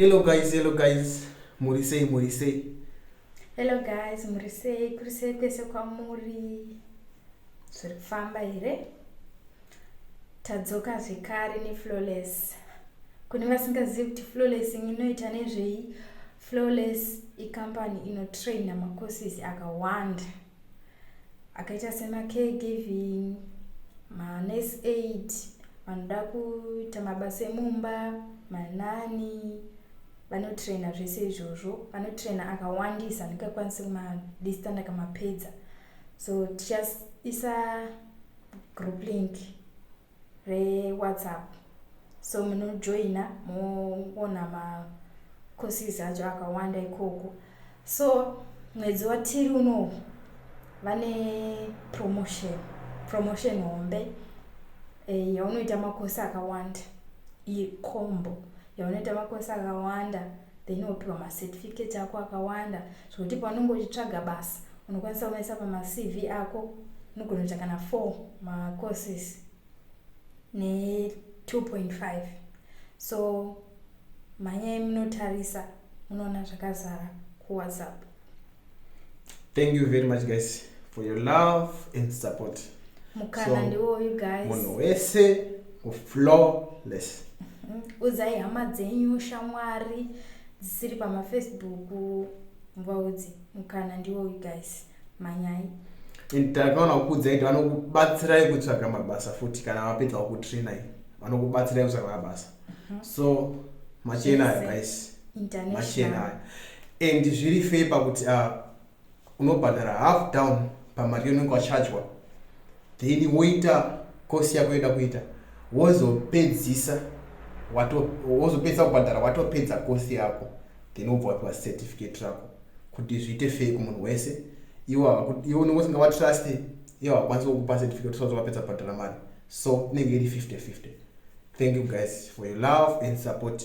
Hello guys, hello guys. Muri sei, muri sei? Hello guys, muri sei? Kuri sei kwese kwamuri? Zviri kufamba here? Tadzoka zvekare neFlawless. Kune vasingazivi kuti Flawless inoita nezvei? Flawless ikampani inotraina macourses akawanda. akaita semacaregiving manurse aid vanoda kuita mabasa emumba manani vanotraina zvese izvozvo vanotraina akawandisa ndingakwanisi kumadista ndakamapedza so tichaisa group link rewhatsapp so munojoina moona macourses acho akawanda ikoko so mwedzi watiri unowu vane promotion promotion hombe eh, yaunoita makosi akawanda icombo yaunoita makosi akawanda then wopiwa macertificate ako akawanda zvekuti paunenge uchitsvaga basa unokwanisa kumaisa pamacv ako unogona kuita kana four macourses ne2.5 so mhanyai munotarisa munoona zvakazara kuwhatsapp thank you very much guys for your love and support mukana so, ndiwoyu guys munhu wese uflawless udzai hama dzenyu shamwari dzisiri pamafacebook muvaudzi mukana ndiwo guys manyai and takaona kukuudzai kuti vanokubatsirai kutsvaga mabasa futi kana vapedza kukutrainai vanokubatsirai kutsvaga mabasa mhm. so machena ayo guys machena ayo and zviri fei pakuti uh, unobhadhara half down pamari yaunenge wachajwa then woita kosi yako yoda kuita wozopedzisa wozopedzisa kubhadhara watopedza kosi yako then wobva wapiwa certificate rako kuti zviite fei kumunhu wese iwo unenge usinga vatrust iwo hakwanisi kukupa certificate usazo wapedza kubhadhara mari so inenge iri 50 50 thank you guys for your love and support